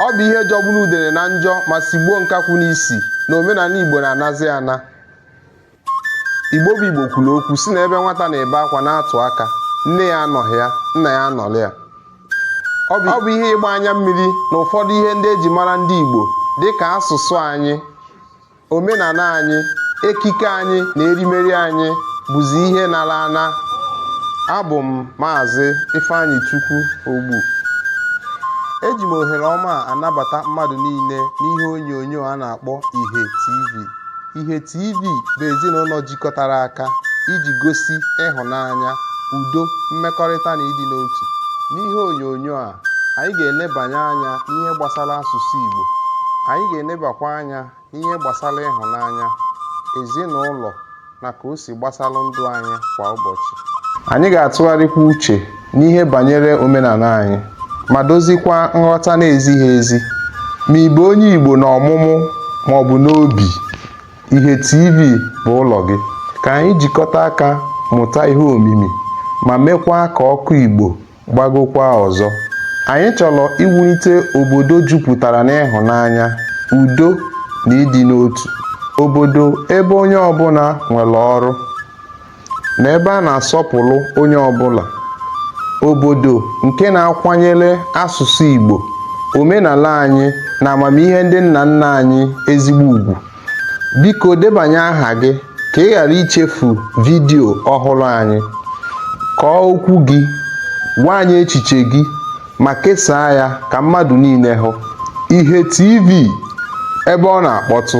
ọ bụ ihe jọgburu udene na njọ ma sigbuo nkakwụ n'isi na omenala igbo na-anazi ana igbo bụ igbo kwuru okwu sị na ebe nwata na-ebe akwa na-atụ aka nne ya anọghị ya nna ya anọrọ ya ọ bụ ihe ịgba anya mmiri na ụfọdụ ihe ndị eji mara ndị igbo dị ka asụsụ anyị omenala anyị ekike anyị na erimeri anyị bụzi ihe nara ana abụ m maazị ifeanyịchukwu ogbu eji m ohere ọma a anabata mmadụ niile n'ihe onyonyo a na-akpọ ihe tv ihe tv bụ ezinụlọ jikọtara aka iji gosi ịhụnanya udo mmekọrịta na ịdị n'otu n'ihe onyonyo a anyị ga-elebanye anya n'ihe gbasara asụsụ igbo anyị ga-elebakwa anya ihe gbasara ịhụnanya, ezinụlọ na ka o si gbasara ndụ anyị kwa ụbọchị. Anyị ga-atụgharịkwa uche n'ihe banyere omenala anyị ma dozikwa nghọta na-ezighị ezi ma ị bụ onye Igbo n'ọmụmụ ma ọ bụ n'obi. Ihe TV bụ ụlọ gị. Ka anyị jikọta aka mụta ihe omimi ma mekwaa ka ọkụ Igbo gbagokwa ọzọ. Anyị chọrọ iwulite obodo jupụtara n'ịhụnanya, udo na ịdị n'otu, obodo ebe onye ọbụla nwere ọrụ na ebe a na-asọpụrụ onye ọbụla, obodo nke na-akwanyere asụsụ Igbo, omenala anyị na amamihe ndị nna nna anyị ezigbo ugwu. Biko debanye aha gị ka ị ghara ichefu vidiyo ọhụrụ anyị. Kọọ okwu gị, gwa anyị echiche gị ma kesaa ya ka mmadụ niile hụ. Ihe TV, ebe ọ na-akpọtụ.